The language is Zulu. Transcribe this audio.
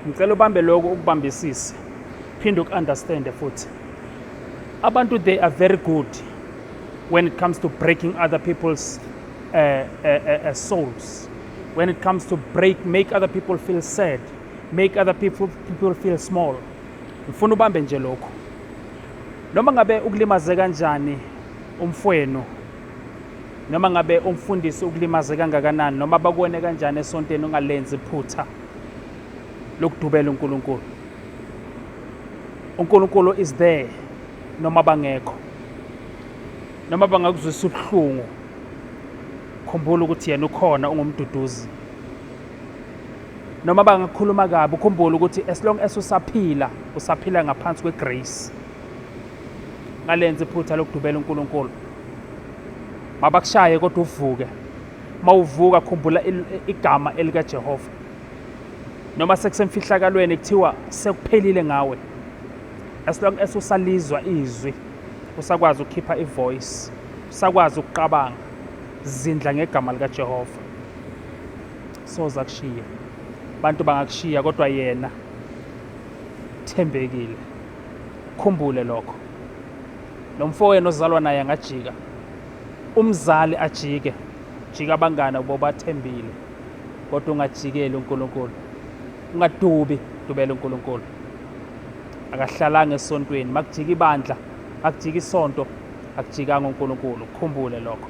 ngicela ubambe lokho ukubambisise phinde uku-understande futhi abantu they are very good when it comes to breaking other people's uh, uh, uh, uh, souls when it comes to break make other people feel sad make other people, people feel small ngifuna ubambe nje lokho noma ngabe ukulimaze kanjani umfwenu Noma ngabe umfundisi ukulimaze kangakanani noma bakuwene kanjani esonteni ungalenzi iphutha lokudubela uNkulunkulu. uNkulunkulu is there noma bangekho noma bangakuzwisa ubuhlungu khumbula ukuthi yena ukhona ungumduduzi noma bangakhuluma kabi ukhumbule ukuthi as long as usaphila usaphila ngaphansi kwegrace ngalenza iphutha lokudubela uNkulunkulu mabakushaye kodwa uvuke mawuvuka khumbula igama elika Jehova noma sekusemfihlakalweni kuthiwa sekuphelile ngawe as long as usalizwa izwi usakwazi ukukhipha ivoice usakwazi ukuqabanga zindla ngegama lika Jehova soza kushiya abantu bangakushiya kodwa yena thembekile Khumbule lokho. Lo mfowenu ozalwa naye angajika. Umzali ajike. Jika abangane ubo bathembile. Kodwa ungajikeli uNkulunkulu. Ungadubi, dubela uNkulunkulu. Akahlalanga esontweni, makujika ibandla, akujika isonto, akujikanga uNkulunkulu. Khumbule lokho.